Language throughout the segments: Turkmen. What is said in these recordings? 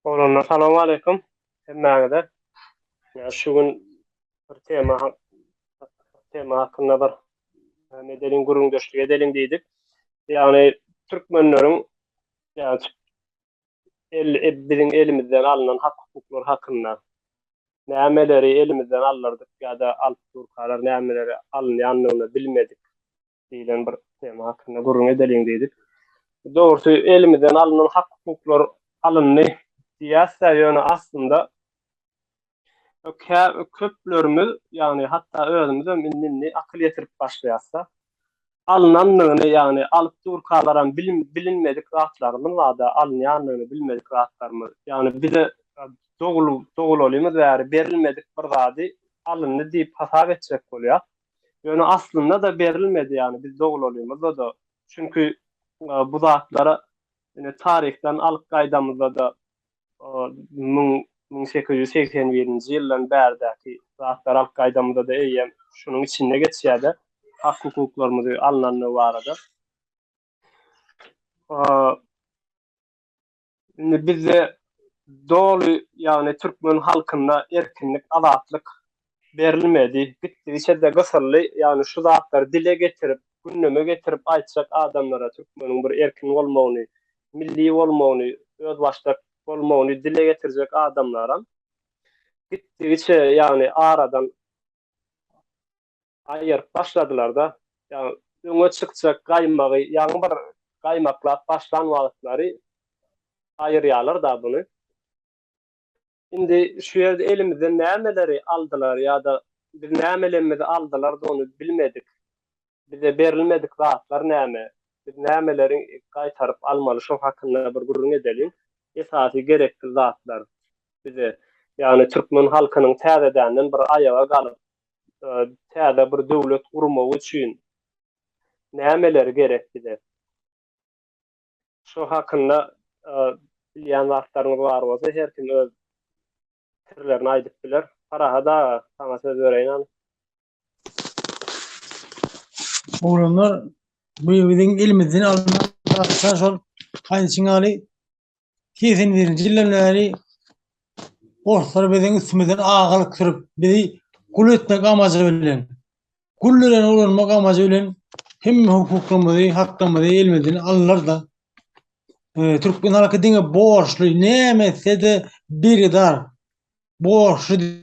Oglanlar salam aleýkum hemmäňize. Ýa şu gün bir tema tema hakynda bir ne edelim gürrüňdeşlik edelim diýdik. Ýagny türkmenleriň ýa-da el e, biziň elimizden alnan hak hukuklar hakynda nämeleri elimizden aldyrdyk ýa-da alyp durkalar nämeleri alynýandygyny bilmedik. diýlen bir tema hakynda gürrüň edeliň diýdik. Dogrusy elimizden alnan hak-hukuklar alyndy diýýäs-de, ýöne aslynda köplerimiz, ýagny hatda özümizem indi-indi akyl ýetirip başlaýas-da, alnandygyny, ýagny alyp durkalaram bilinmedik zatlarymyz bar-da, alynýandygyny bilmedik zatlarymyz. Ýagny bize dogululymyz bäri berilmedik bir zady alyndy diýip hasap etjek bolýas. Ýöne aslynda-da berilmedi ýagny biz doglalymyzda-da çünki bu zatlara ine taryhdan alyp gaýdamyzda-da müň müň sekiz ýüz segsen birinji ýyldan bärdäki zatlary alyp gaýdamyzda-da eýýäm şunuň içinde geçýär-de hak hukuklarymyzy alnandygy barada. Indi bizde doly, ýagny türkmen halkyna erkinlik, azatlyk berilmedi. Gitdigiçe-de gysyldy. Ýagny şu zatlary dile getirip, gündeme getirip aýtjak adamlara türkmeniň bir erkin bolmagyny, milli bolmagyny, özbaşdak bolmagyny dile getirjek adamlaram gitdigiçe, ýagny aradan aýyryp başladylar-da, ýagny öňe çykjak gaýmagy ýaňy bir gaýmaklap başlan wagtlary aýyrýarlar-da buny. Indi şu ýerde elimizden nämeleri aldylar ýa-da biz nämelemmizi aldylar-da ony bilmedik. Bize berilmedik zatlar näme? Biz nämeleri gaýtaryp almaly şo hakynda bir gürrüň edeliň. Esasy gerekli zatlar bize, ýagny türkmen halkynyň täzedänden bir aýaga galyp, täze bir döwlet gurmak üçin nämeler gerek bize? Şo hakynda bilýän zatlaryňyz bar bolsa her kim öz pikirlerini aýdyp biler. Parahat aga, saňa söz bereýin. Oglanlar, bu biziň elimizden alnan şol aýdyşyň ýaly 81-nji ýyldan bäri orslar biziň üstümizden agalyk sürüp, bizi gul etmek amajy bilen, gul bilen ulanmak amajy bilen hemme hukuklarymyzy, haklarymyzy elimizden aldylar-da. E, türkmen halky diňe borçly, näme etse-de birgidar, borçly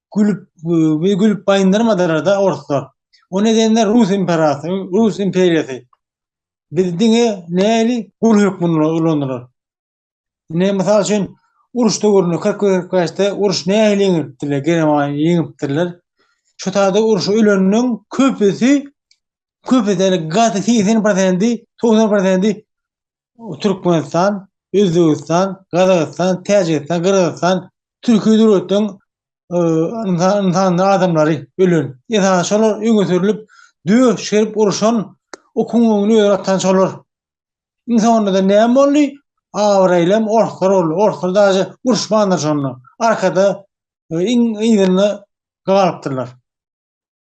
gülüp we gülüp baýyndyrmadylar da orslar. O nedenle Rus imperatory, Rus imperiýasy biz diňe näli gul hökmünde ulandylar. Ne mysal üçin uruş döwründe 40-45-de uruş näli ýeňipdiler, Germaniýa ýeňipdirler. Şu taýda uruşa öleniň köpüsi köpüsi gaty 80%, 90% Türkmenistan, Özbegistan, Gazagystan, Täjigistan, Gyrgyzystan, Türkiýe döwletleriň ynsanly adamlary ölen. Esasan şolar öňe sürülip, döş çykaryp urşan, okuň öňüni öýe atan şolar. Iň soňunda-da näme boldy? Abraýlam orslar boldy. Orslar daže uruşmandyr şonda. Arkada iň yzynda galypdyrlar.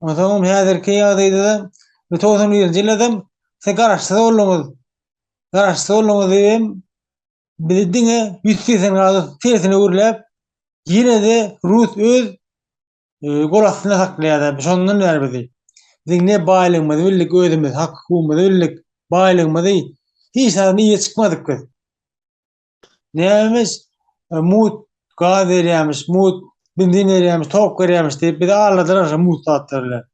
Onsoňam häzirki ýagdaýda-da, bu togsan birinji ýyldam siz garaşsyz bolduňyz. Garaşsyz bolduňyz diýibem, bizi diňe ýüz segsen gradus tersine öwürläp, ýene-de rus öz e, gol astynda saklaýar. Şondan bäri bizi. Biziň ne baýlygymyzy bildik özümiz, hak-hukugymyzy bildik, baýlygymyzy hiç zady ýe çykmadyk biz. Nämemiş? E, mut gaz berýämiş, mut benzin berýämiş, tok berýämiş diýip bizi aldadylar şu mut zatlar bilen.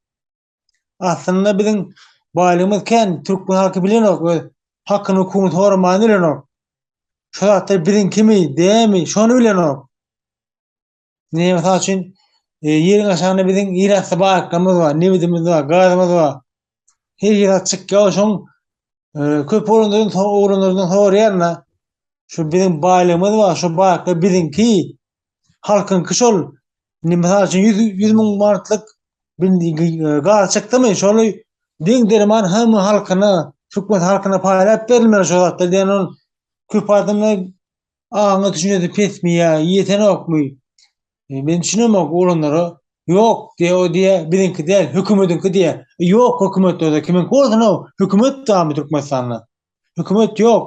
Aslynda biziň baýlygymyz kän, türkmen halky bilenok, öz hakyny hukugyny soraman bilenok. Şu zatlar biziň kimi, dämi, şony bilenok. Ne misal üçin ýeriň aşagynda biziň ýerasty baýlyklarymyz bar, nebidimiz bar, gazymyz bar. Her ýere çykýar şoň köp oglanlardan soň oglanlardan soraýanda şu biziň baýlygymyz bar, şu baýlyklar biziňki. Halkyňky şol. Ne misal üçin 100 100 müň manatlyk gaz çykdymy, şoly deň derman hamma halkyna, türkmen halkyna paýlap berilmeli şu zatlar diýen köp adamlar Aňy düşünjesi pesmi ýa ýetenokmy? E, men düşünemok olanlara ýok diýe o diýe biziňki däl hökümetiňki diýe. E, ýok hökümet öde kimiň bolsun o hökümet damy Türkmenistanda. Hökümet ýok.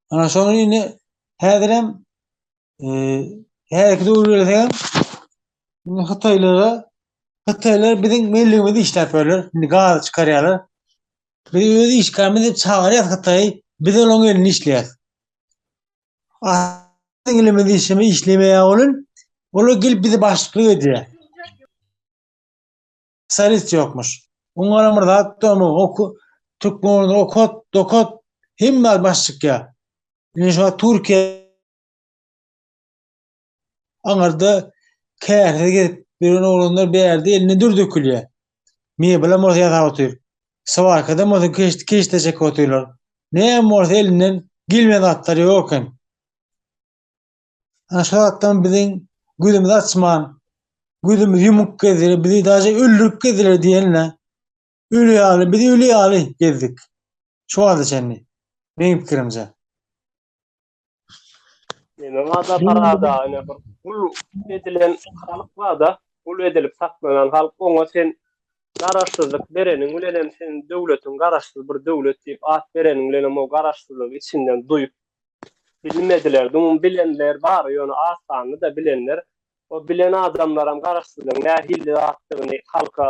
Ana şony indi häzirem Häzirki döwürde hem indi Hytaýlara Hytaýlar biziň millimizde işläp ýörler. Indi gaz çykarýarlar. Biz öz işgärimiz diýip çagyrýarys Hytaýy. Biz olaryň elinde işleýäris. Aslynda ilimiz işimi işlemeýär bolun. Olar gelip bizi başlyk edýär. Sarit ýokmuş. Oňara bir zat dömür, oku, Türkmenlerde okot, dokot, hemme başlyk ýa. Indi şu Türkiýe Aňyrda käse gezip ýören oglanlar bärde eline dür dökülýär. Mebelam bolsa ýasap otyr. Swarkadam bolsa keşde keşde çekip otyrlar. Näme bolsa elinden gelmeýän zatlar ýok eken. Ana şu zatdan biziň gözümizi açman, gözümizi ýumuk gezdiler, bizi daže öldürip gezdiler diýenle. Öli ýaly, biz öli ýaly gezdik. Şu wagta çenli. Meň pikirimçe. Meniň ada parada ýa bir gul edilen halk barda, gul edilip saklanan halk oňa sen garaşsyzlyk bereniň bilen hem sen döwletiň garaşsyz bir döwlet diýip at bereniň bilen hem o garaşsyzlygy içinden duýup bilmediler. Dumuň bilenler bar, ýöne az sanly-da bilenler. O bilen adamlaram garaşsyzlygyň nähili zatdygyny halka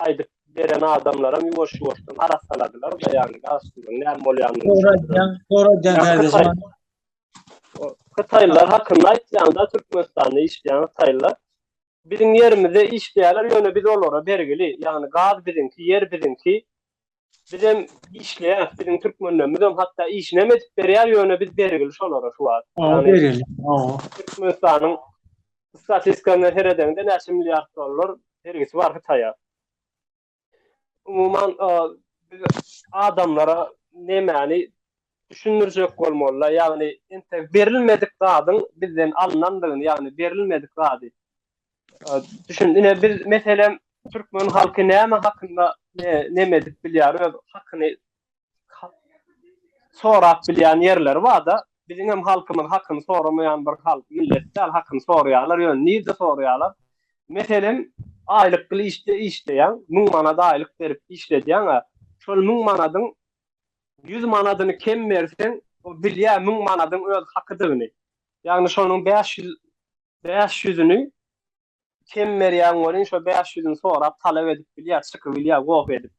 aýdyp beren adamlaram ýuwaş-ýuwaşdan arassaladylar da ýagny garaşsyzlygyň näme bolýanyny düşündiler. Soradýan soradýan Hytaýlylar hakynda aýtýaňda Türkmenistanda işleýän hytaýlylar biziň ýerimizde işleýärler ýöne biz olara bergili ýagny gaz biziňki ýer biziňki Bizem işleýäs, biziň türkmenlerimizem hatda işinem edip berýär, ýöne biz bergil şolara şu wagt. Ýa bergil. Türkmenistanyň statistikasyna seredeňde näçe milliard dollar bergisi bar Hytaýa. Umuman adamlara nämäni düşündirjek bolmalylar, ýagny entek berilmedik zadyň bizden alynandygyny, ýagny berilmedik zady Düşün, ine biz meselem türkmen halky näme hakynda neme edip bilýär, öz hakyny sorap bilýän ýerleri bar-da, biziň hem halkymyz hakyny soramaýan bir halk, millet däl, hakyny soraýarlar, ýöne nirde soraýarlar? Meselem, aýlykly işde işleýäň, müň manat aýlyk berip işledýäň-ä, şol müň manadyň ýüz manadyny kem berseň, o bilýär müň manadyň öz hakydygyny, ýagny şonuň bäş ýüz Bäş ýüzüni kem berýäň welin şo bäş ýüzüni sorap talap edip bilýär çykybilýär goh edip.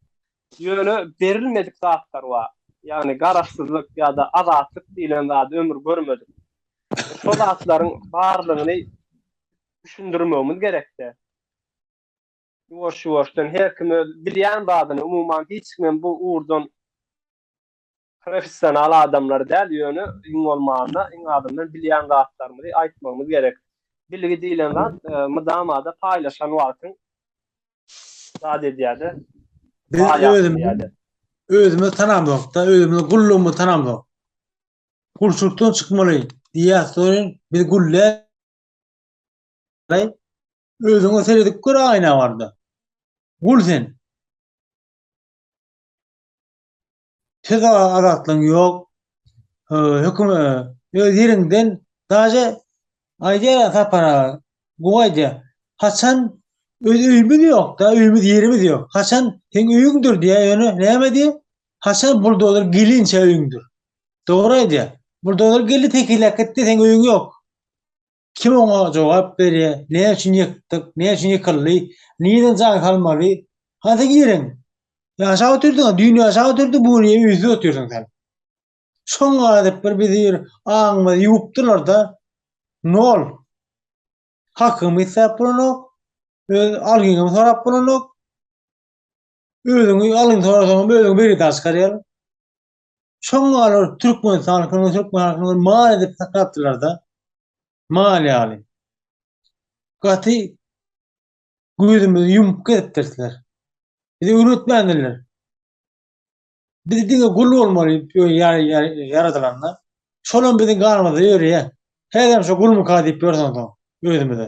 Ýöne berilmedik zatlar bar. Ýagny garaşsyzlyk ýa-da azatlyk diýlen zady ömür görmedik. Şo zatlaryň barlygyny düşündirmegimiz gerekde. Ýuwaş-ýuwaşdan her kim öz bilýän zadyny umuman hiç kimem bu ugurdan Professional adamlar däl, ýöne iň bolmanda, iň azyndan bilýän zatlarymyzy aýtmagymyz gerek. Bilgi diýlen zat mydama-da paýlaşan wagtyň zat edýär-de. Biz özümizi tanamzok-da, özümiziň gullugymyzy tanamzok. Gulçulykdan çykmaly diýýäs, soň biz gul däl. Özüňe seredip gör aýna barda. Gul sen. Söz azatlygyň ýok. Höküm öz ýerinden daje aýdýar sapara. Bu aýdýar. Haçan öz öýümiz ýokda, öýümiz ýerimiz ýok. Haçan seň öýüňdir diýär, ýöne näme diýär? Haçan buldozer gelinçe öýüňdir. Dogry aýdýar. Buldozer geldi tekiläp gitdi, seň öýüň ýok. Kim oňa jogap berýär, näme üçin ýykdyk, näme üçin ýykyldy, nireden jaý salmaly, haýsy girin? Ýaşap otyrdyň, düýn ýaşap otyrdyň, bu gün ýene üýsüp otyrsyň sen. Şoň gaýdyp bir bizi bir aňymyzy ýuwupdylar-da, nol. Hakyňy isläp bolanok, öz algyňy sorap bolanok. Özüňi algyňy sorasaňam özüňi bir ýerden çykarýar. Şoňa olar türkmen halkyny, türkmen halkyny mal edip saklapdylar-da. Mal ýaly. Gaty gözümizi ýumup gezipdirler. Bizi öwretmändirler. Biz diňe gul bolmaly ýaradylanda. Şolam biziň ganymyzda ýörýär. Häzirem şu gulmyka diýip ýörüň özümize.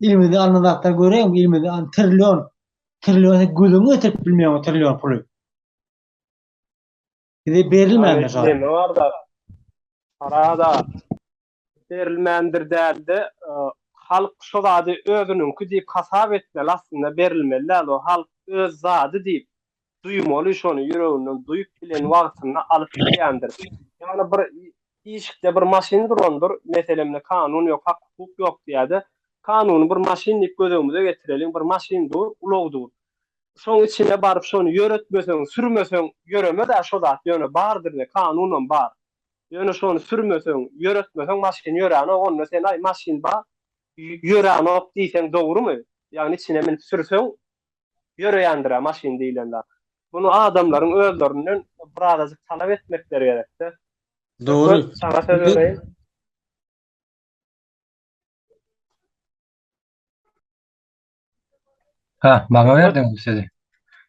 Ilimizde alnan zatlar göreň, ilimizde an trillion, trillion gözüňe getirip bilmeýän o trillion puly. Bize berilmändir şu an. Orada parada berilmändir däldi. Halk şu zady özüniňki diýip hasap etmeli, aslynda berilmeli däl. O halk öz zady diýip duýmaly şony ýüreginden duýup bilen wagtynda alyp bilýändir ýagny bir işikde bir maşyn durandyr meselemde kanun ýok hak hukuk ýok diýäde kanuny bir maşyn diýip gözegimize getireliň bir maşyn dur ulag dur şoň içine baryp şony ýöretmeseň sürmeseň ýöremezä şo zat ýöne bardyrde kanunam bar ýöne şony sürmeseň ýöretmeseň maşyn ýöränok onda sen aý maşyn bar ýöränok diýseň dogrymy ýagny içine minip sürseň ýöreýändir-ä maşyn diýlen zat. Muny adamlaryň özlerinden birazajyk talap etmekleri gerek-dä. Dogry. Söhbet saňa söz bereýin. Hä, maňa berdiňmi sözi?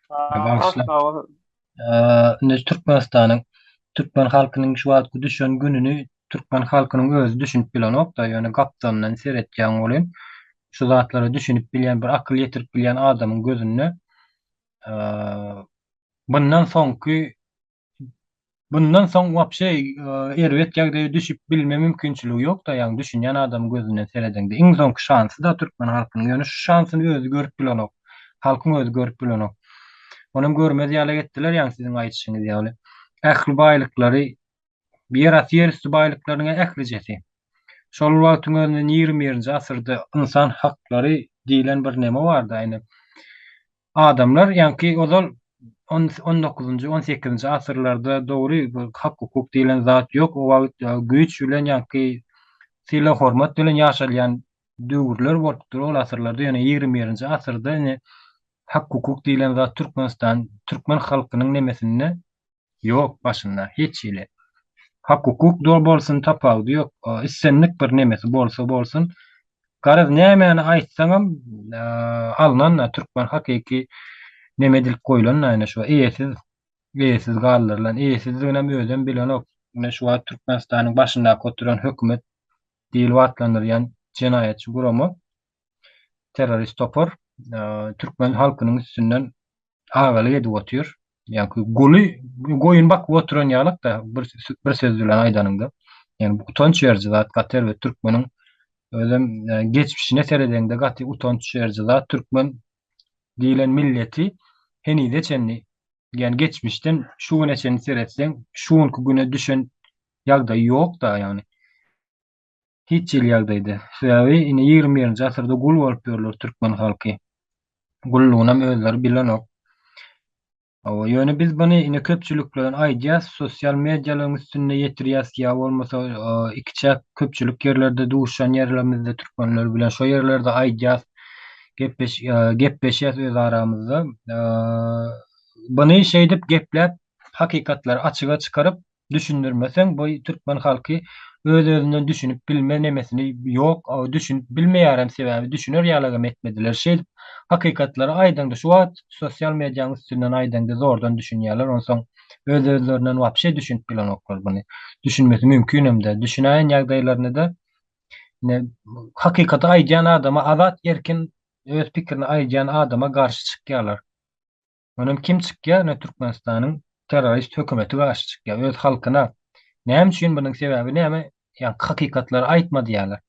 Bagyşla. Indi Türkmenistanyň, türkmen halkynyň şu wagtky düşen gününi türkmen halkynyň özi düşünip bilenok-da, ýöne gapdalyndan seretýäň welin, şu zatlara düşünip bilýän, bir akyl ýetirip bilýän adamyň gözünde bundan soňky, bundan soň wapşe erbet ýagdaýa düşüp bilme mümkinçiligi ýok-da, ýagny düşünýän adamyň gözünden seredeňde. Iň soňky şansy-da türkmen halkynyň, ýöne şu şansyny özi görüp bilenok. Halkyň özi görüp bilenok. Onam görmez ýaly etdiler ýaňy siziň aýdyşyňyz ýaly. Ähli baýlyklary ýerasty ýerüsti baýlyklarynyň ählijesi. Şol wagtyň özünde ýigrimi birinji asyrda ynsan haklary diýlen bir neme bardy aýna. Adamlar ýaňky ozal on on dokuzynjy on sekizinji asyrlarda dogry hak hukuk diýlen zat ýok o wagt güýç bilen ýaňky sylag hormat bilen ýaşalýan döwürler bolupdyr. Ol asyrlarda ýöne ýigrimi birinji asyrda ine hak hukuk diýlen zat Türkmenistan türkmen halkynyň nemesinde ýok başynda hiç hili. Hak hukuk dol bolsun tapawudy ýok. Islendik bir nemesi bolsa bolsun. Garaz nämäni aýtsaňam alnan-da türkmen hakyky neme edilip goýlan-da ine şu eýesiz eýesiz galdyrylan. Eýesizdiginem özem bilenok. Ine şu wagt Türkmenistanyň başyndaky oturan hökümet diýlip atlandyrýan jenaýatçy gurama, terrorist topar türkmen halkynyň üstünden agalyk edip otyr. Ýagny guly goýun bakyp oturan ýalykda bir bir söz bilen aýdanyňda. Ýagny bu utanç beriji zat gaty erbet türkmeniň özem e, geçmişine seredeňde gaty utanç beriji zat türkmen diýlen milleti henize çenli ýagny geçmişden şu güne çenli seretseň şu günki güne düşen ýagdaýy ýok-da, ýagny hiç hili ýagdaýda. Sebäbi indi ýigrimi birinji asyrda gul bolup ýörler türkmen halky. Gullugynam özleri bilenok. Hawa, ýöne biz buny indi köpçülikleýin aýdýas, sosial medialaryň üstünde ýetirýäs ýa bolmasa ikiçäk köpçülik ýerlerde duşan ýerlerimizde türkmenler bilen şo ýerlerde aýdýas, gepleşýäs öz aramyzda. Buny şeýdip gepläp hakykatlary açyga çykaryp düşündirmeseň bu türkmen halky öz özünden düşünip bilme nemesini ýok düşünip bilmeýärem sebäbi düşüner ýalagam etmediler şeýdip hakykatlary aýdaňda şu wagt sosial mediaň üstünden aýdaňda zordan düşünýärler onsoň öz özlerinden wapşe düşünip bilenoklar buny düşünmesi mümkinemdä düşünäýen ýagdaýlarynada ine hakykaty aýdýan adama azat erkin öz pikirini aýdýan adama garşy çykýarlar. Mundan kim çykýar? Ine Türkmenistanyň terrorist hökümeti garşy çykýar öz halkyna. Näme üçin bunuň sebäbi näme? Ýa hakykatlary aýtma diýýärler.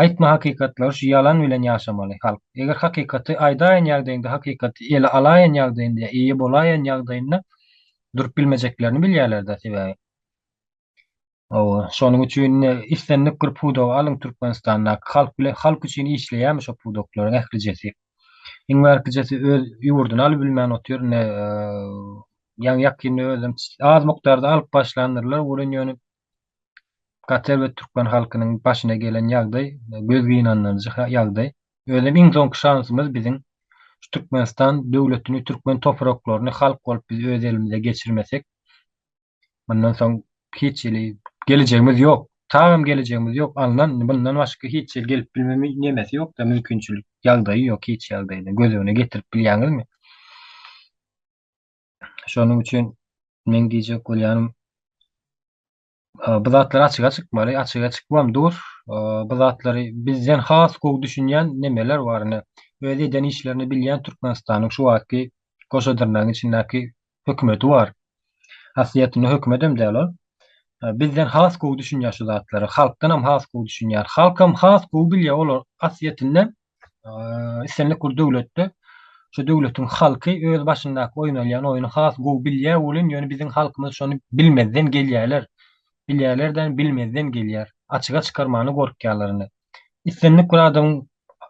Aýtma hakykatlary şu ýalan bilen ýaşamaly halk. Eger hakykaty aýdaýan ýagdaýynda hakykaty ele alaýan ýagdaýynda ýa eýe bolaýan ýagdaýynda durup bilmejeklerini bilýärler-de sebäbi. Hawa, şonuň üçin islendik bir pudagy alyň Türkmenistandaky halk bilen halk üçin işleýärmi şo pudaklaryň ählijesi. Iň bärkijesi öz ýurduny alyp bilmän otyr indi ýaňy ýakynda özem az mukdarda alyp başlandyrlar welin ýöne gaty erbet türkmen halkynyň başyna gelen ýagdaý göz gynandyryjy ýagdaý. Özem iň soňky şansymyz biziň şu Türkmenistan döwletini türkmen topraklaryny halk bolup biz öz elimize geçirmesek Mundan soň hiç hili gelejegimiz ýok. Tagam gelejegimiz ýok. Alnan mundan başga hiç ýer gelip bilmeme nemesi ýok-da, mümkinçilik, ýagdaýy ýok hiç ýagdaýda. Göz öňüne getirip bilýäňizmi? Şonuň üçin meň diýjek bolýanym, bu zatlar açyga çykmaly, açyga çykybam dur. Bu zatlary bizden has gowy düşünýän nemeler bar ine. Öz eden işlerini bilýän Türkmenistanyň şu wagtky goşa dyrnagyň içindäki hökümeti bar. Aslyýetinde hökümedem däl ol. Bizden has gowy düşünýär şu zatlary. Halkdanam has gowy düşünýär. Halkam has gowy bilýär olar aslyýetinde islendik bir döwletde şu döwletiň halky öz başyndaky oýnalýan oýny has gowy bilýär welin ýöne biziň halkymyz şony bilmezden gelýärler. Bilýärler-de bilmezden gelýär. Açyga çykarmana gorkýarlar indi. Islendik bir adamyň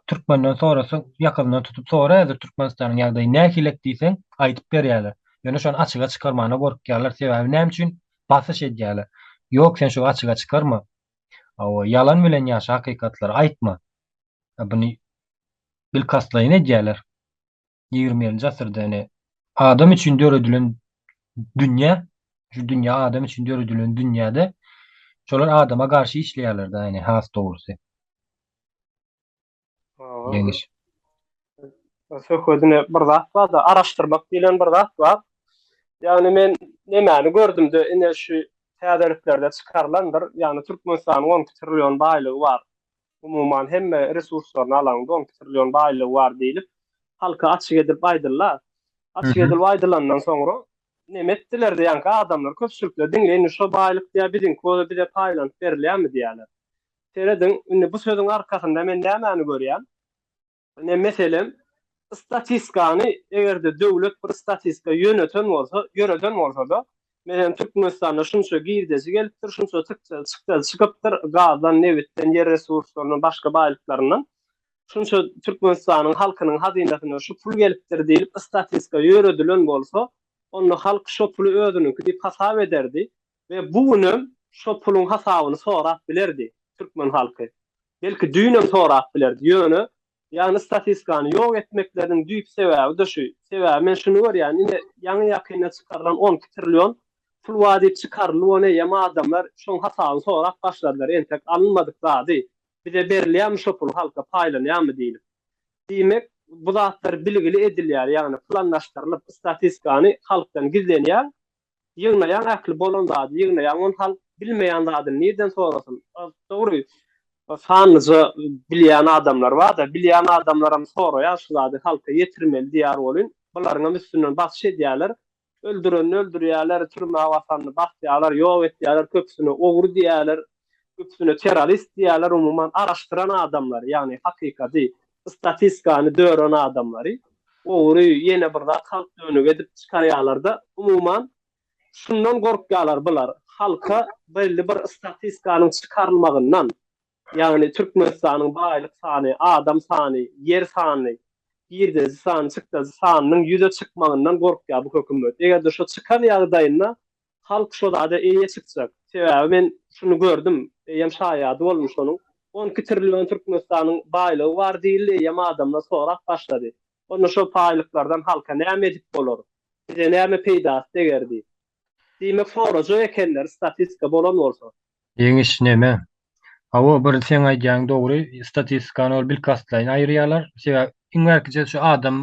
türkmenden sorasaň, ýakasyndan tutup soraýarlar Türkmenistanyň ýagdaýy nähilek diýseň, aýdyp berýärler. Ýöne şony açyga çykarmana gorkýarlar. Sebäbi näme üçin? Basyş edýärler. Ýok, sen şu açyga çykarma. Hawa, ýalan bilen ýaşa, hakykatlary aýtma. Buny bilkastlaýyn edýärler. ýigriminji asyrda ine adam üçin döredilen dünýä şu dünýä adam üçin döredilen dünýäde şolar adama garşy işleýärler da ine has dogrusy ýeňiş söhbedine bir zat bar da araşdyrmak diýlen bir zat bar ýagny men nemäni gördümde ine şu täzeliklerde çykarylandyr ýagny türkmenistanyň on iki trillion baýlygy bar umuman hemme resurslaryny alaňda on iki trillion baýlygy bar diýlip halka açyk edilip aýdylla. Açyk edilip aýdylandan soňra neme etdiler diýýänki adamlar köpçülikler diňleýin indi şo baýlyk diýýä biziňki bolsa bize paýlanyp berilýärmi diýýärler. Serediň indi bu sözüň arkasynda men nämäni görýän? Ine, meselem, statistikany eger-de döwlet bir statistika ýöneten bolsa, ýöreden bolsa-da, meselem, Türkmenistanda şunça girdeji gelipdir, şunça çykja, çykja çykypdyr, gazdan, nebitden, ýer resurslaryndan, başga baýlyklaryndan, şunça Türkmenistanyň halkynyň hazynasyna şu pul gelipdir diýlip, statistika ýöredilen bolsa, onda halk şo puly özüniňki diýip hasap ederdi. We bu günem şo puluň hasabyny sorap bilerdi türkmen halky. Belki düýnem sorap bilerdi. Ýöne, ýagny statistikany ýok etmekleriniň düýp sebäbi-de şu. Sebäbi men şuny görýän, ine, ýaňy-ýakynda çykarylan on iki trillion pul bar diýip çykarylyp, ony eýýäm adamlar şoň hasabyny sorap başladylar, entek alynmadyk zady, bize berilýärmi şo pul, halka paýlanýarmy diýlip. Diýmek, bu zatlar bilgili edilýär, ýagny planlaşdyrylyp, statistikany halkdan gizlenýär, Ýygnaýaň ähli bolan zady ýygnaýaň ony halk bilmeýän zadyny nirden sorasyn. Dogry sanlyja bilýän adamlar barda bilýän adamlaram soraýar şu zady halka ýetirmeli diýär welin bularyňam üstünden basyş edýärler öldürenini öldürýärler türmä basanyny basýarlar ýok etýärler köpüsine ogry diýýärler üstüne terrorist diýýärler umuman araşdyran adamlary ýagny hakykady statistkany dören adamlary ogry ýene bir zat halk dönük edip çykarýalarda umuman şundan gorkýalar bular halka belli bir statistkanyň çykarylmagyndan ýagny türkmenistanyň baýlyk sany adam sany ýer sany girdeji sany çykdajy sanynyň ýüze çykmagyndan gorkýar bu hökümet egerde şo çykan ýagdaýynda Halk şo zada eýe çykjak. Sebäbi men şuny gördüm, eýem şaýady boldum şonuň. On iki trillion Türkmenistanyň baýlygy bar diýildi, eýem adamlar sorap başlady. Onda şo paýlyklardan halka näme edip bolar? Bize näme peýdasy deger diýip. Diýmek sorajak ekenler, statistika bolan bolsa. Ýeňiş neme? Hawa bir seň aýdýaň dogry statistikany ol bilkastlaýyn aýyrýalar sebäbi iň bärkije şu adam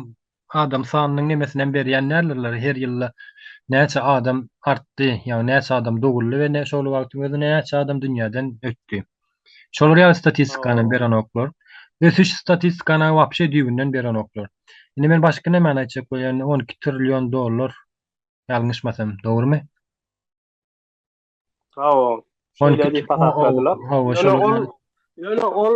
adam sanynyň nemesinem berýän däldirler her ýylda näçe adam artdy ýagny näçe adam doguldy we ne şol wagtyň özünde näçe adam dünýäden ötdi şolar ýaly statistikanam berenoklar ösüş statistikany wapşe düýbünden berenoklar indi men başga nemäni aýtjak bolýan on iki trillion dollar ýalňyşmasam dogrumy? Hawa. Şeýle diýip hasapladylar. Hawa, şeýle. Ýöne ol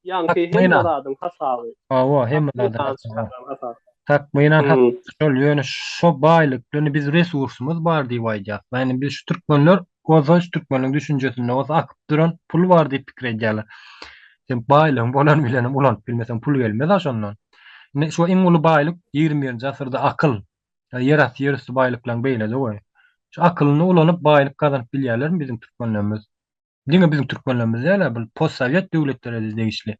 ýaňky hem adyň hasaby. Hawa, hem adyň. Tak, meýna hak. Şol ýöne şo baýlyklyny biz resursumyz bar diýip aýdýar. Ýani biz şu türkmenler bolsa şu türkmeniň düşünjesinde bolsa akyp duran pul bar diýip pikir edýärler. Sen baýlygyň bolan bilenem ulanyp bilmeseň pul gelmez-a şondan. Indi şo iň uly baýlyk ýigrimi birinji asyrda akyl. Ýa ýerasty ýerüsti baýlyklaň beýlede goý. Şu akylyny ulanyp baýlyk gazanyp bilýärlermi biziň türkmenlerimiz? Diňe biziň türkmenlerimiz dälä bul postsowet döwletlerede degişli.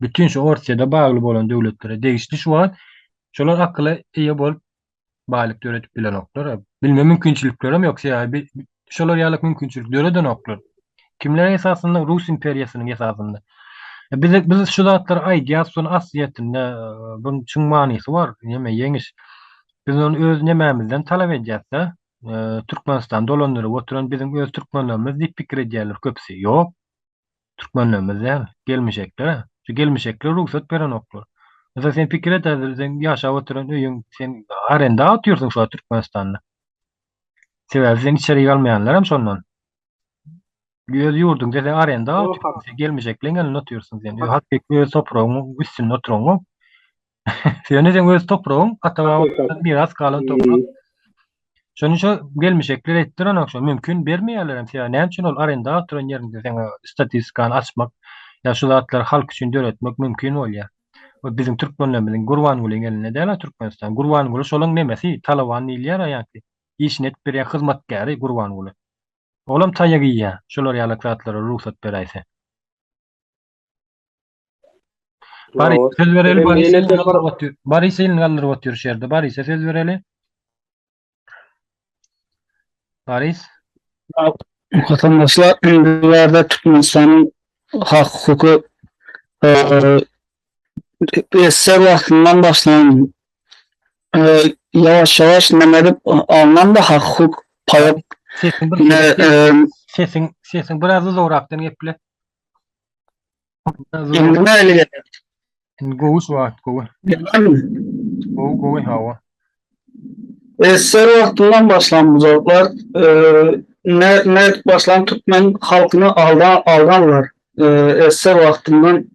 Bütin şu Orsýede bagly bolan döwletlere degişli şu wagt şolar akyla eýe bolup baýlyk döredip bilenoklar. Bilme mümkinçiliklerem ýok sebäbi şolar ýaly mümkinçilik döredenoklar. Kimler esasynda rus imperiýasynyň esasynda. E, biz biz şu zatlary aýdýarys, şuny aslyýetinde e, buň çuň manysy bar. Näme ýeňiş? Biz ony öz nemämizden talap edýäs-de. E, Türkmenistan dolandyryp oturan biziň öz türkmenlerimiz diýip pikir edýärler köpüsi. Ýok. Türkmenlerimiz däl, gelmişekler. Şu gelmişekler rugsat berenoklar. Mesela sen pikir et, sen ýaşap oturan öýüň, sen arenda oturýarsyň şu Türkmenistanda. Sebäbi sen içeri galmaýanlar hem şondan. Öz ýurduň dese arenda oturyp gelmejekleň elinde oturýarsyň sen. Öz hat tek öz topragyň üstünde oturyň. Sen sen öz topragyň ata-baba miras galan toprak. Şonuň üçin gelmejekler etdir ana şu mümkin bermeýärler hem sebäbi näme üçin ol arenda oturan ýerinde sen statistikany açmak ýa şu zatlary halk üçin döretmek mümkin bolýar. we biziň türkmenlerimiziň Gurbangulyň elinde däl-a Türkmenistan. Gurbanguly şolaň nemesi, talaban diýilýär-ä ýaňky, işini edip berýän hyzmatkäri Gurbanguly. Olam taýak iýýär, şolar ýalak zatlara rugsat beräýse. Barysa söz bereli, Barysa elini galdyryp otyr şu ýerde, Barysa söz bereli. Baris. Watandaşlar indi Türkmenistanyň hak hukuky eser wagtyndan başlan ýawaş ýawaş näme edip alnan da hak hukuk paýap sesiň sesiň biraz uzagrakdan geple Indi näle geldi? Indi gowy suwat, gowy. Gowy, gowy hawa. Esser wagtyndan başlan bu zatlar ne ne başlan türkmen halkyny aldan aldanlar. Esser wagtyndan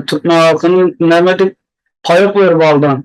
türkmen halkyny näme dip paýok berip aldan.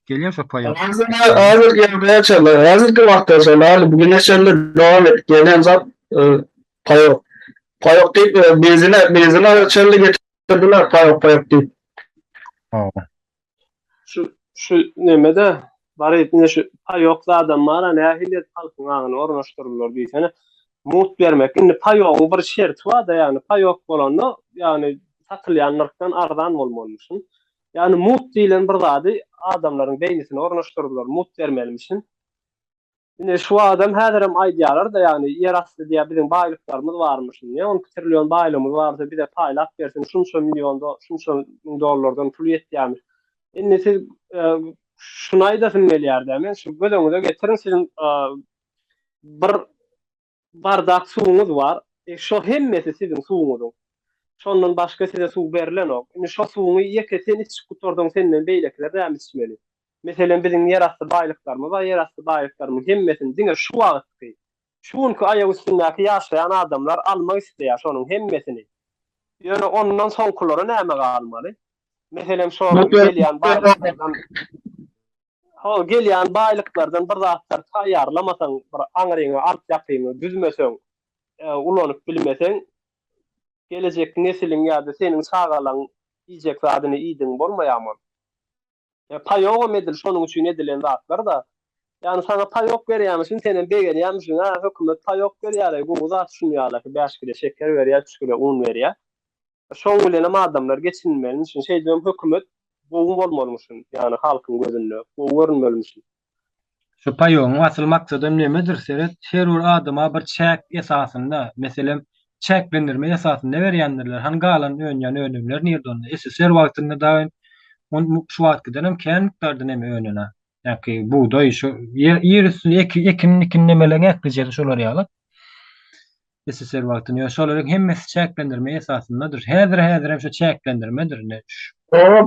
Gelýän sapar ýok. Häzirki häzirki ýagdaýa çenli, häzirki wagta çenli, häli bu güne çenli dowam edip gelýän zat paýok. Paýok diýip, benzine, benzine çenli getirdiler paýok, paýok diýip. Hawa. Şu, şu neme-de, baryp ine şu paýok zadam bar-a, nähili edip halkyň aňyna ornaşdyrdylar diýsene. Mugt bermek, indi paýogyň bir şerti bar-da, ýagny paýok bolanda, ýagny satylýan nyrhdan arzan bolmalymyşyn. Ýagny mut diýlen bir zady adamlaryň beýnisine ornaşdyrdylar, mut bermelimişin. Ine, şu wagtam häzirem aýdýarlar-da, ýagny ýer asty diýýär, biziň baýlyklarymyz barmyşyn. Niýe on iki trillion baýlygymyz barsa, bize paýlap bersin, şunça million, şunça müň dollardan puly ýetýärmiş. Indi siz şuny aýdasym gelýär-dä, men şu göz öňüňize getiriň, siziň bir Bardak suwuňyz bar. E, şo hemmesi siziň suwuňyzyň. Şondan başga size suw berlenok. Indi şo suwuňy ýeke sen içip gutardyň, senden beýlekiler näme içmeli? Meselem, biziň ýerasty baýlyklarymyz bar, ýerasty baýlyklarymyň hemmesini diňe şu wagtky, şu günki aýak üstündäki ýaşaýan adamlar almak isleýär şonuň hemmesini. Ýöne ondan soňkulara näme galmaly? Meselem, şo gelýän baýlyklardan. Hol gelýän baýlyklardan bir zatlar taýýarlamasaň, bir aňryňy, artýakyňy düzmeseň, ulanyp bilmeseň, gelejek nesiliň ýa-da seniň çagalaň iýjek zadyny iýdigiň bolmaýarmy? Paýogam edil şonuň üçin edilen zatlar-da. Ýagny saňa paýok berýämişin, senem begenýämişiň, Ä, hökümet paýok berýär-eý, gowy zat şuny ýaly, bäş kile şeker berýär, üç kile un berýär. Şoň bilenem adamlar geçinmelmişin. Şeýdibem hökümet gowy bolmalymyşyn, ýagny halkyň gözünde gowy görünmelmişin. Şu paýogyň asyl maksadam nemedir, seret, her bir adama bir çäk esasynda, meselem, çäklendirme esasynda berýändirler, hany galan önýän önümler nirde onda? SSR wagtynda dagyn, şu wagt gidenem kän mukdarda neme önen-ä? Ýa-ki bugdaý şu ýer üsti ekin mikin nemeleň eklijegi şolar ýaly. SSR wagtynda ýöne şolaryň hemmesi çäklendirme esasyndadyr. Häzir häzir hem şu çäklendirmedir ine.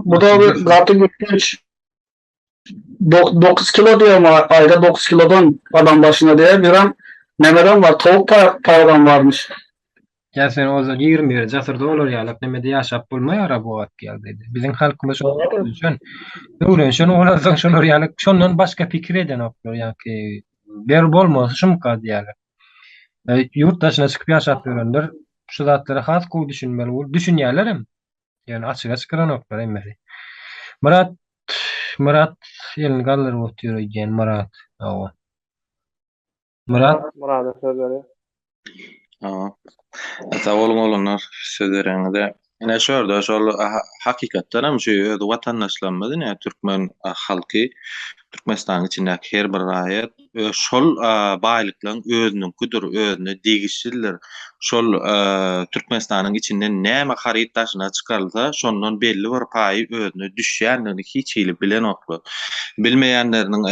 Bu da gaty gepleç. Dokuz kilo diýýär maňa aýda dokuz kilodan adam başyna diýýär. Birem nemerem bar towuk paýagam barmyş. Ýa sen ozal ýigrimi ýedi asyr dolar ýalak nemede ýaşap bolmaýara bu wagt ýagdaýda. Biziň halkymyz şo öwrenşen. Öwrenşen bolansoň şolar ýalak şondan başga pikir edenoklar ýaňky ber bolmasy şumka diýýärler. Ýurt daşyna çykyp ýaşap ýörenler şu zatlara has gowy düşünmeli bolup düşünýärlerem. Ýöne açyga çykaranoklar hemmesi. Myrat Myrat elini galdyryp otyr öýdýän Myrat. Hawa. Murat. Murada söz berýär. Aha. Sag boluň oglanlar, söz bereňize. Ine şu ýerde şol hakykatdan hem şu öz watandaşlarymyz ine türkmen halky, Türkmenistanyň içindäki her bir raýat öz şol baýlyklaryň özüniňkidir, özüne degişlidir. Şol Türkmenistanyň içinden näme haryt daşyna çykarylsa, şondan belli bir paýy özüne düşýändigini hiç hili bilenoklar. Bilmeýänleriniň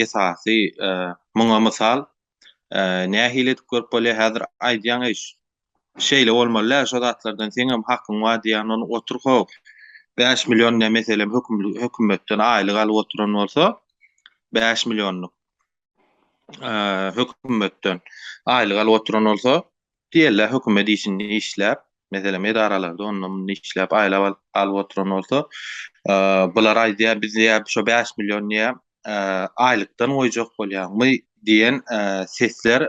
esasy Muňa mysal, nähili edip görüp bolýar, häzir aýdýaň eýş, şeýle bolmaly-dä, şo zatlardan seňem hakyň bar diýýän ony otur how, bäş million ne meselem hökümetden aýlyk alyp oturan bolsa, bäş millionlyk hökümetden aýlyk alyp oturan bolsa, Diýerler, hökümet işinde işläp, meselem, edaralarda onda-munda işläp, aýlap alyp oturan bolsa, bular aýdýar, biz şo bäş million aýlykdan goýjak bolýarmy diýen sesler,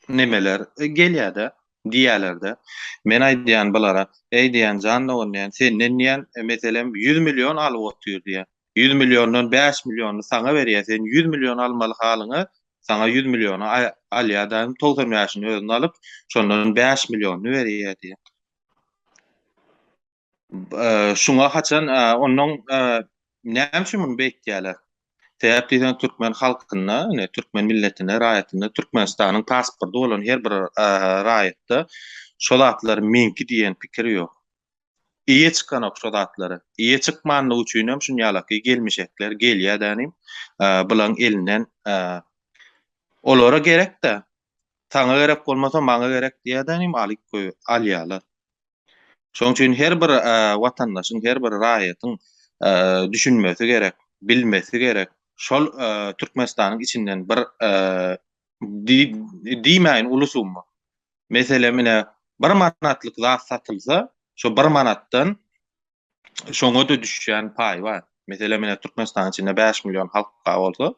nemeler gelýär-de, diýýärler-de. Men aýdýan bulara, Eý diýýän, jan dogan diýýän, senden diýýän, meselem, ýüz million alyp otyr diýýän. Ýüz milliondan bäş milliony saňa berýär, sen ýüz million almaly halyňa, saňa ýüz milliony alýar daýym, togsan bäşini özüne alyp, şondan bäş millionyny berýär diýýär. Şuňa haçan, onnoň näme üçin muny beýtýärler? Sebäp diýseň, türkmen halkynda, ine, türkmen milletinde, raýatynda, Türkmenistanyň pasporty bolan her bir raýatda şo zatlar meňki diýen pikir ýok. Eýe çykanok şo zatlary. Eýe çykmanlygy üçinem şunýalaky gelmişekler gelýädä inim. Bulaň elinden olara gerekdä. Saňa gerek bolmasa maňa gerek diýädä inim alyp goý alýalar. Şoň üçin her bir watandaşyň her bir raýatyň düşünmesi gerek, bilmesi gerek. Şol Türkmenistanyň içinden bir diýmäýin uly summa. Meselem, ine, bir manatlyk zat satylsa, şo bir manatdan şoňa-da düşýän paý bar. Meselem, ine, Türkmenistanyň içinde bäş million halk bar bolsa,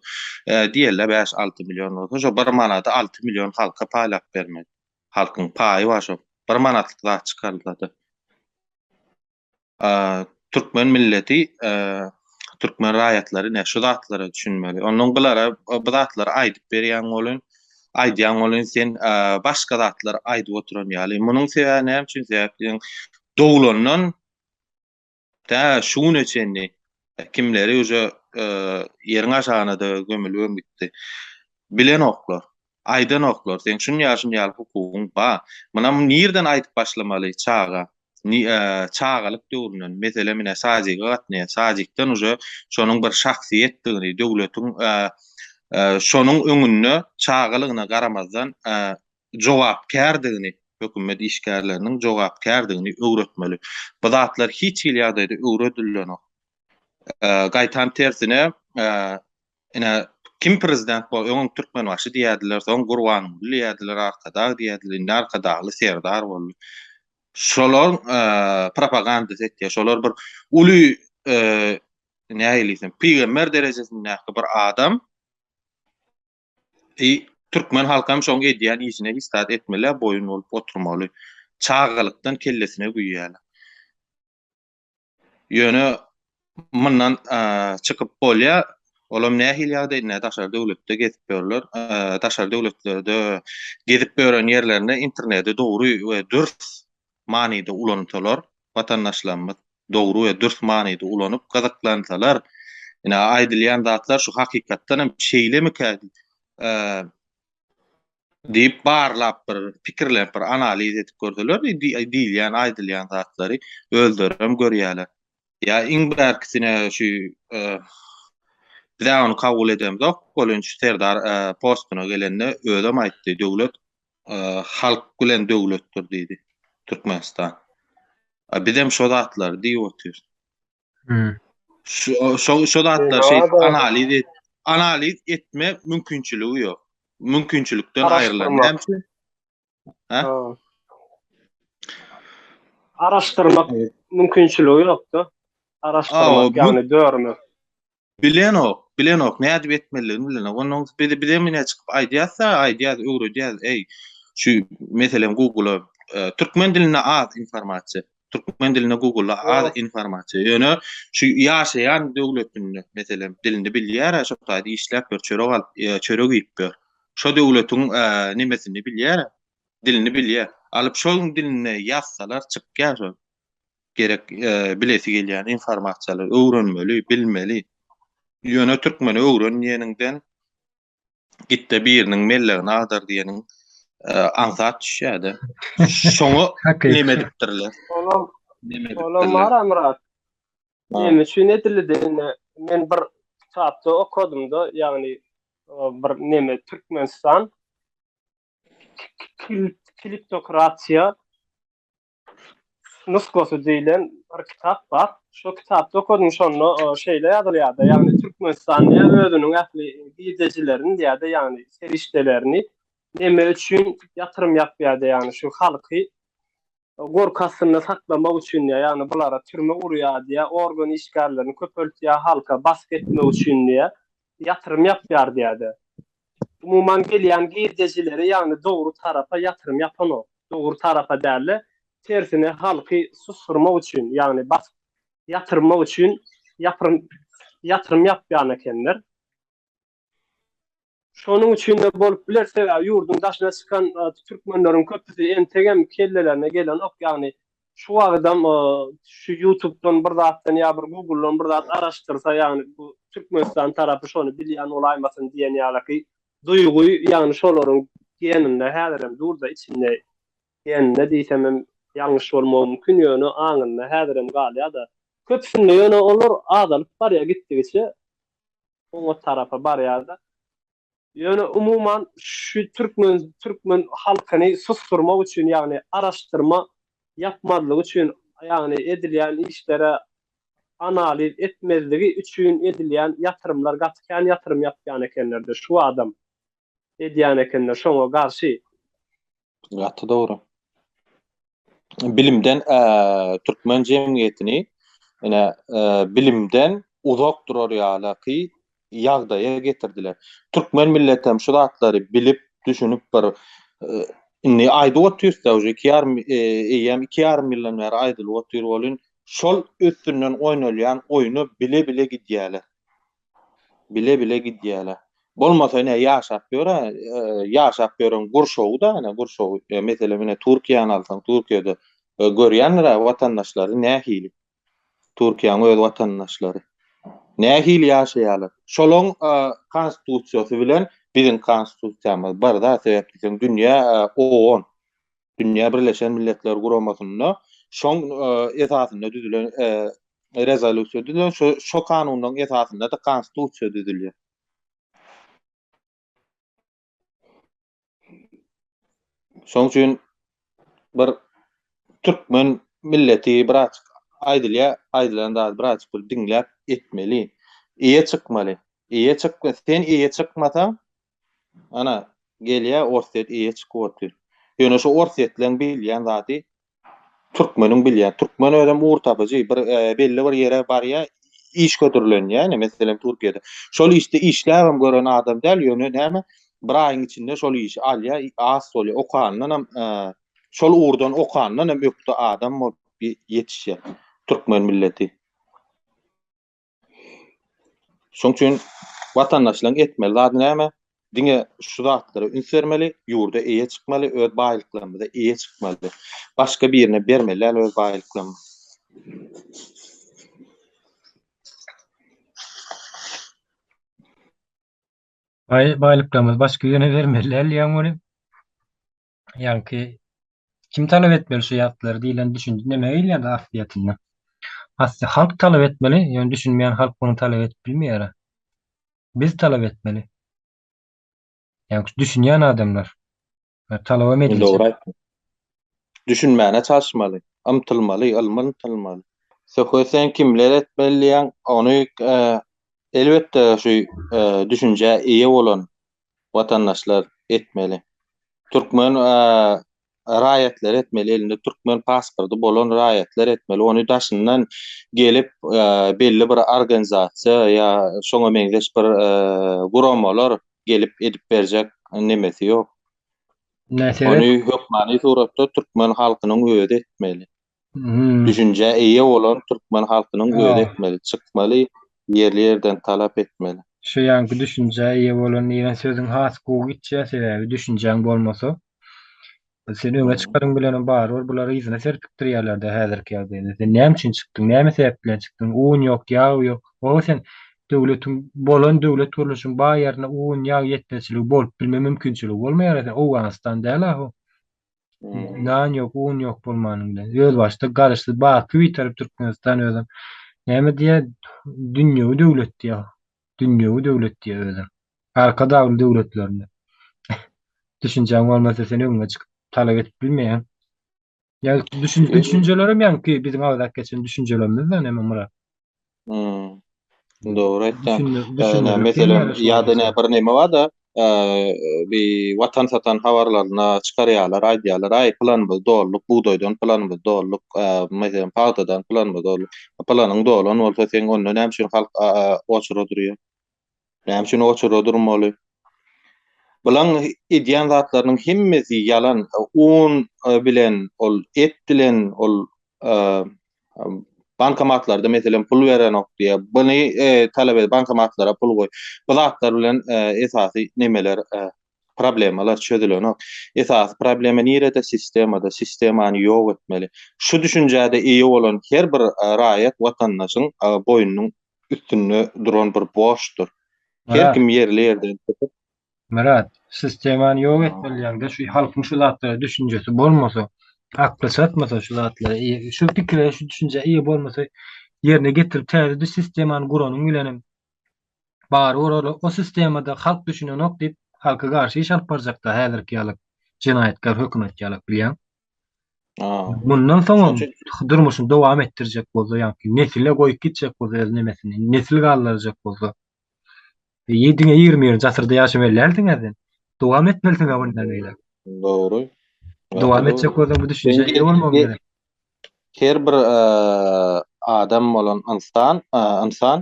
diýeli, bäş-alty million bolsa, şo bir manady alty million halka paýlap bermeli. Halkyň paýy bar şo bir manatlyk zat çykarylsa-da. Türkmen milleti, türkmen raýatlary ine şu zatlara düşünmeli. Ondan gylara bu zatlary aýdyp berýän bolun, aýdýan bolun sen başga zatlar aýdyp oturan ýaly. Munuň sebäbi näme üçin? Sebäbi doglandan tä şu güne çenli kimleri uje ýeriň aşagyna-da gömülibem gitdi. Bilenoklar. Aýdanoklar seň şun ýaşyn ýaly hukugyň ba. Muna nirden aýdyp başlamaly çaga çagalyk döwründen mesele mine sadika gatnaýa sadikden uje şonuň bir şahsyýetdigini döwletiň şonuň öňünde çagalygyna garamazdan jogapkärdigini hökümet işgärleriniň jogapkärdigini öwretmeli bu zatlar hiç hili ýagdaýda öwredilenok gaýtam tersine Ine, kim prezident bol, öňem Türkmenbaşy diýerdiler, soň Gurbanguly diýerdiler, Arkadag diýerdiler, indi Arkadagly Serdar boldy. Şolaryň propagandasy etýär. Şolar bir uly nähili diýsem, pygamber derejesindäki bir adam. I türkmen halky hem şoň edýän işine hiç zat etmeli, boýun bolup oturmaly. Çagalykdan kellesine güýýärler. Ýöne mundan çykyp bolýar. Olam nähili ýagdaý indi daşary döwletde gezip ýörler. Daşary döwletlerde gezip ýören ýerlerinde interneti dogry we dürs manyda ulansalar, watandaşlarymyz dogry we dürs manyda ulanyp gyzyklansalar, ine aýdylýan zatlar şu hakykatdan hem şeýlemikä diýip barlap bir pikirlenip bir analiz edip görseler diýilýän aýdylýan zatlary özlerem görýäler ýa iň bärkisine şu e, bize ony kabul edemzok bolunç serdar e, postuna gelende özem aýtdy döwlet e, halk bilen döwletdir diýdi türkmenistan bizem şo zatlary diýip otyrys Şu şu şu zatlar şey analiz et, analiz etme mümkinçiligi yok. Mümkinçilikden aýrylan hemsi. Ha? Araştırmak mümkinçiligi ýokda. Araştırmak ýagny dörmek. Bilenok, bilenok, nädip etmelidigini bilenok. Ondan biz bizem ine çykyp aýdýas-da, aýdýas, öwredýäs, eý, şu meselem Google-a e, türkmen dilinde az informasiýa. Türkmen dilinde Google-a az Ýok. informasiýa. Ýöne şu ýaşaýan döwletinde meselem dilini bilýär, şo taýda işläp ýör, çörek alyp, e, çörek iýip ýör. Şo döwletiň e, nemesini bilýär, dilini bilýär. Alyp şol dilinde ýazsalar çykýar şol. gerek bilesi gelýän informasiýalary öwrenmeli, bilmeli. Ýöne türkmeni öwren diýeniňden gitde biriniň mellegini agdar diýeniň aňsat düşýärdi. Şoňa näme edipdirler? Olam, olam bar Amrat. Näme üçin edildi diýende, men bir kitapda okadymda, ýagny bir näme Türkmenistan kliptokratiýa nusgasy diýlen bir kitap bar. Şu kitapda okadym şonda şeýle ýazylýardy. Ýagny Türkmenistan diýä özüniň ähli girdejilerini diýýärdi, ýagny serişdelerini neme üçin ýatyrym ýapýardy, ýagny şu halky gorky astynda saklamak üçin diýýär. Ýagny bulara türme gurýar diýýär, organ işgärlerini köpeltýär, halka basgy etmek üçin diýýär. ýatyrym ýapýar diýýär-de. Umuman gelýän girdejileri ýagny dogry tarapa ýatyrym ýapanok. Dogry tarapa däl-de, tersine halky susdurmak üçin, ýagny basyp ýatyrmak üçin ýapyrym ýatyrym ýapýan ekenler. Şonuň üçin-de bolup biler, sebäbi ýurduň daşyna çykan türkmenleriň köpüsi entegem kellelerine gelenok, ýagny Şu wagydam şu ýutubdan bir zatdan ýa bir guguldan bir zat araşdyrsa ýagny bu Türkmenistan tarapy şony bilýän bolaýmasyn diýen ýalyky duýgy ýagny şolaryň geninde häzirem durda içinde geninde diýsemem ýalňyş bolmagy mümkin ýöne aňynda häzirem galýada köpüsinde ýöne olar azalyp barýa gitdigiçe oňat tarapa barýada Ýöne umuman şu türkmen türkmen halkyny susdurmak üçin ýagny araşdyrma ýapmazlygy üçin ýagny edilýän işlere analiz etmezligi üçin edilýän ýatyrymlar gaty kän ýatyrym ýapýan ekenlerde şu adam edýän ekenler şoňa garşy Gaty dogry. Bilimden eee türkmen jemgyýetini ene eee, bilimden uzak durar ýalaky ýagdaýa getirdiler. Türkmen millet hem şu zatlary bilip, düşünip bir eee, indi aýdyp otyrys-da, uje iki ýarym eee, eýýäm iki ýarym ýyldan bäri aýdylyp otyr welin, şol üstünden oýnalýan oýny bile-bile gidýäler. Bile-bile gidýäler. Bolmasa ine ýaşap ýöre, ýaşap ýören gurşawy-da, ine gurşaw, meselem ine Türkiýäni alsaň, Türkiýede görýändir-ä watandaşlary nähili. Türkiýäň öz watandaşlary. Nähili ýaşaýarlar. Şolaň konstitusiýasy bilen biziň konstitusiýamyz bir-da sebäpli sen dünýä owan. Dünýä Birleşen Milletler Guramasynda şoň esasynda düzülen rezolýusiýa düzülen şu şu kanunyň esasynda da konstitusiýa düzülýär. Şoň üçin bir türkmen milleti biraz aýdylýar, aýdylan zat biraz bir diňläp etmeli. Eýe çykmaly. Eýe çykma, sen eýe çykmasaň, Ana, gelýä Orsýet eýe çykyp otyr. Ýöne şu Orsýetliň bilýän zady türkmeniň bilýän. Türkmen özem ugur tapyjy, bir belli bir ýere barýa, iş hödürlenýä, ine, meselem Türkiýede. Şol işde işläbem gören adam däl, ýöne näme, bir aýyň içinde şol işi alýa, az bolýa, okandanam, şol ugurdan okandanam ökde adam bolup ýetişýä türkmen milleti. Şoň üçin watandaşlaryň etmeli zady näme? Diňe şu zatlara üns bermeli, ýurda eýe çykmaly, öz baýlyklarymyza eýe çykmaly. Başga birine bermeli däl öz baýlyklarymyzy. Baý baýlyklarymyzy başga birine bermeli däl diýýäň muny. Ýaňky kim talap etmeli şu ýatlary diýlen düşünje näme gelýärdi aslyýetinde? Asly halk talap etmeli, ýöne düşünmeýän halk muny talap edip bilmeýär. Biz talap etmeli. Ýaňky şu düşünýän adamlar. Talabam ediljek. Dogry aýtdyň. Düşünmäne çalyşmaly, ymtylmaly, ylma ymtylmaly. Söhbet sen kimleri etmeli diýýäň, ony elbetde şu düşünjä eýe bolan watandaşlar etmeli. Türkmen raýatlary etmeli elinde türkmen pasporty bolan raýatlar etmeli ony daşyndan gelip belli bir organizasiýa ýa şoňa meňzeş bir guramalar gelip edip berjek nemesi ýok. Ony hökmany suratda türkmen halkynyň özi etmeli. Düşünjä eýe bolan türkmen halkynyň özi etmeli, çykmaly, ýerli-ýerden talap etmeli. Şu ýanky düşünjä eýe bolan diýen sözüň has gowy gitýär, sebäbi düşünjäň bolmasa, sen öňe çykaryň bilenem barybir bular yzyna serpikdirýärler-de häzirki ýagdaýda. Sen näme üçin çykdyň, näme sebäp bilen çykdyň, un ýok, ýag ýok, oho sen döwletiň, bolan döwlet gurluşyň baý ýerine un, ýag ýetmezçiligi bolup bilme mümkinçiligi bolmaýar-a, sen Owganystan däl-a bu. Nan yok, un yok bolmanyň bilen. Öz başda garaşsyz baky bitaryp Türkmenistan özüm. Näme diýýär? Dünýewi döwlet diýýär. Dünýewi döwlet diýýär özüm. Arka dagly döwletlerinde. Düşünjäň bolmasa sen öňe çykyp talap edip bilmeýäň. Ýa düşün, düşünjelerem ýaňky biziň agzap geçen düşünjelerimiz da näme Murat? Dogry aýtýaň. Näme meselem, ýa-da näme bir näme bar-da, bi watan satan habarlaryna çykarýarlar, aýdýarlar, aý, pylanymyzy dolduk, bugdaýdan pylanymyzy dolduk, meselem, pagtadan pylanymyzy dolduk. Pylanyň dolan bolsa, seň onda näme üçin halk oçurga durýar? Näme üçin oçurda durmaly? Bulaň edýän zatlarynyň hemmesi ýalan. Un bilen, ol et bilen, ol bankomatlarda meselem pul berenok diýýä. Buny talap et, bankomatlara pul goý. Bu zatlar bilen esasy nemeler, problemalar çözülenok. Esasy problema nirede? Sistemada. Sistemany ýok etmeli. Şu düşünjä-de eýe bolan her bir raýat, watandaşyň boýnunyň üstünde duran bir borçdur. Her kim ýerli ýerden çykyp. Myrat, sistemany ýok etmeliýaňda şu halkyň şu zatlara düşünjesi bolmasa, akly çatmasa şu zatlara eýe, şu pikire, şu düşünjä eýe bolmasa ýerine getirip täze düz sistemany guranyň bilenem bary bor ol o sistemada halk düşünenok diýip halka garşy iş alyp barjakda häzirki ýaly jenaýatkär hökümet ýaly bilýäň. Mundan soňam durmuşyny dowam etdirjek bolsa, ýagny nesile goýup gitjek bolsa öz nemesini, nesil galdyrjak bolsa. Ýediňe ýigrimi birinji asyrda ýaşamaly dälsiň sen. Dowam etmelisiň ha mundan beýle. Dogry. Dowam etjek bolsaň bu düşünje eýe bolmagyň gerek. Her bir adam bolan ynsan, ynsan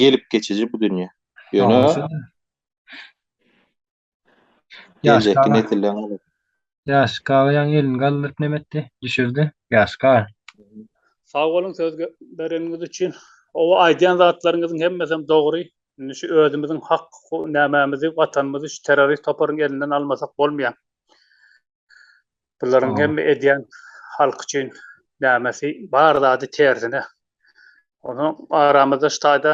gelip geçiji bu dünýä. Ýöne Geljekki nesilleriň alasy. Ýaş galaýan elini galdyryp näme etdi? Düşürdi. Ýaş gar. Sag boluň söz bereniňiz üçin. Oba aýdýan zatlaryňyzyň hemmesem dogry. Indi şu özümiziň hak nämemizi watanymyzy şu terrorist toparyň elinden almasak bolmaýa. Bularyň hemme edýän halk üçin nämesi bar zady tersine. Onuň aramyzda şu taýda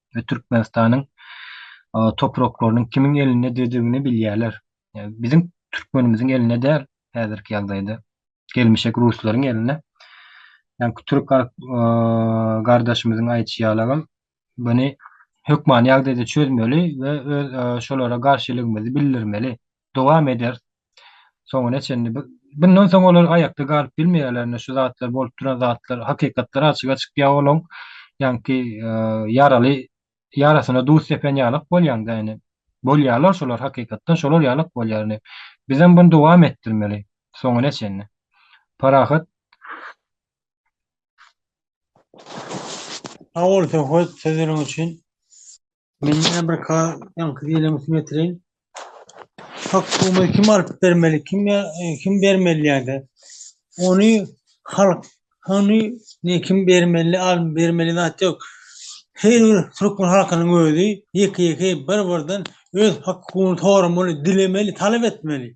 we Türkmenistanyň topraklarynyň kimiň elindedigini bilýärler. Biziň türkmenimiziň elinde däl häzirki ýagdaýda. Gelmişek ruslaryň elinde. Ýa-da türk gardaşymyzyň aýdyşy ýaly agam, muny hökmany ýagdaýda çözmeli we öz şolara garşylygymyzy bildirmeli. dowam ederis soňuna çenli bundan soň olar aýakda galyp bilmeýärler indi şu zatlar bolup duran zatlar hakykatlar açyga çykýa olaň ýaňky ýaraly ýarasyna duz sepen ýalak bolýaňda indi bolýalar şolar hakykatdan şolar ýalak bolýar indi bizem bunu dowam etdirmeli soňuna çenli parahat Sag bol Söhbet sözüniň üçin. Men ýene bir ka ýaňky diýlemi kim etireýin. Hakkumy kim alyp bermeli, kim e, kim bermeli ýa-da ony halk ony ne kim bermeli, al bermeli zat ýok. Her bir türkmen halkynyň özi ýeke-ýeke bir-birden öz hakkuny soramaly, dilemeli, talap etmeli.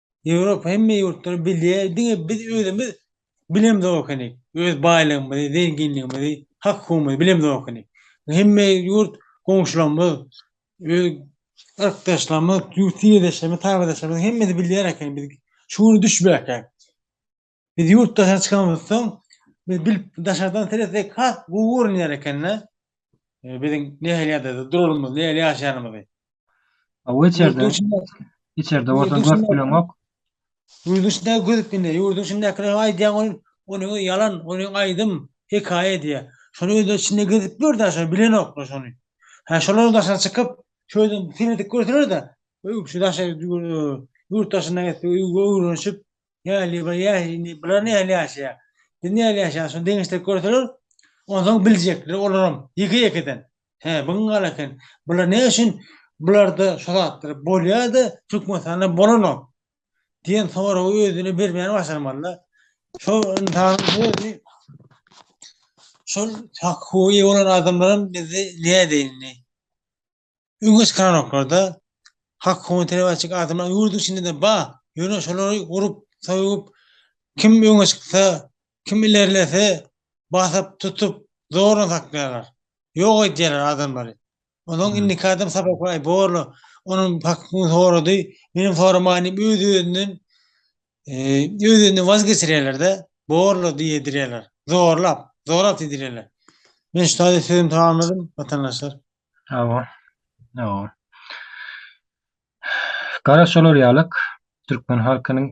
Europa hemme ýurtlar bilýär, diňe biz özümiz bilemzokenik, öz baýlygymyzy, zenginligimizi, hak-hukugymyzy bilemzokenik. Hemme ýurt goňşularymyz, öz yrkdaşlarymyz, ýurt-ýerdeşlerimiz, tabedaşlarymyz hemmesi bilýär ekeni, biz şu güni düşübäkäk. Biz ýurt daşyna çykanymyz soň biz bilip daşardan seretsek has gowy görünýär ekende biziň nähili ýagdaýda duralymyz nähili ýaşaýanymyzy. Hawa içerde içerde bolsa görüp bileňok. Ýurduň içinde görüp indi ýurduň içindäkiler aýdýan ol ony ýalan ony aýdym hekaýa edýär. Şony özleri içinde gezip gör da şony bilenoklar şony. Hä şolaryň daşyna çykyp şöýdip seredip görseler-de öýüp şu daşary ýurt daşynda öwrenişip Häli bir ýa indi bular nähili ýaşaýar? Indi nähili ýaşaýar? Şuny deňeşdirip görseler, onsoň biljekler olaram ýeke-ýekeden. Hä, bu gün gala eken. Bular ne üçin bularda şu zatlar bolýar-da, Türkmenistanda bolanok? diýen soragy özüne bermän başarmaly-da. Şo ynsanyň özi şol hak-hukuga eýe bolan adamlaram bizi nädeýin indi? Öňe çykaranoklarda hak hukugyny talap etjek adamlar ýurduň içinde-de bar. Ýöne şolary urup, soýup, kim öňe çyksa, kim ilerlese, basyp, tutup, zordan saklaýarlar. Ýok edýärler adamlary. Onuň indiki adam sapakly, aý, borla, onuň hakyny sorady, menem soramaýyn diýip, öz-özünden, öz-özünden waz geçirýärler-de, borla diýdirýärler. Zorlap, zorap diýdirýärler. Men şu taýda sözümi tamamladym, watandaşlar. Hawa. Hawa. Gara şolar ýalyk türkmen halkynyň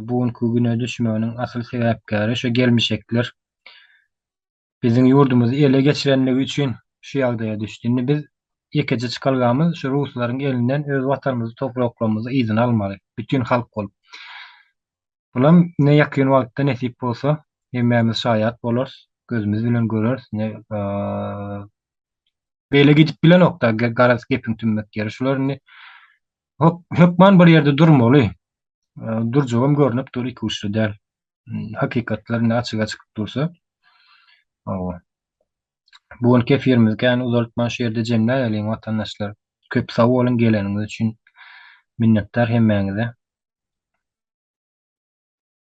bu günki güne düşmeginiň asyl sebäpkäri şu gelmişekler. Biziň ýurdumyzy ele geçirenligi üçin şu ýagdaýa düşdi. Indi biz ýekeje çykalgamyz şu ruslaryň elinden öz watanymyzy, topraklarymyzy yzyna almaly. Bütin halk bolup. Olam ine ýakyn wagtda nesip bolsa hemmämiz şaýat bolarys, gözümiz bilen göreris. Ine beýle gidip bilenok-da, garaz gepiň tümmek ýeri şular indi. Hökman bir ýerde durmaly. Durjagam görnüp dur, iki uçly däl. Hakykatlar indi açyga çykyp dursa. Hawa. Bu gün kefirimizi kän uzaltman şu ýerde jemläýeliň watandaşlar. Köp sag boluň geleniňiz üçin minnetdar hemmäňize.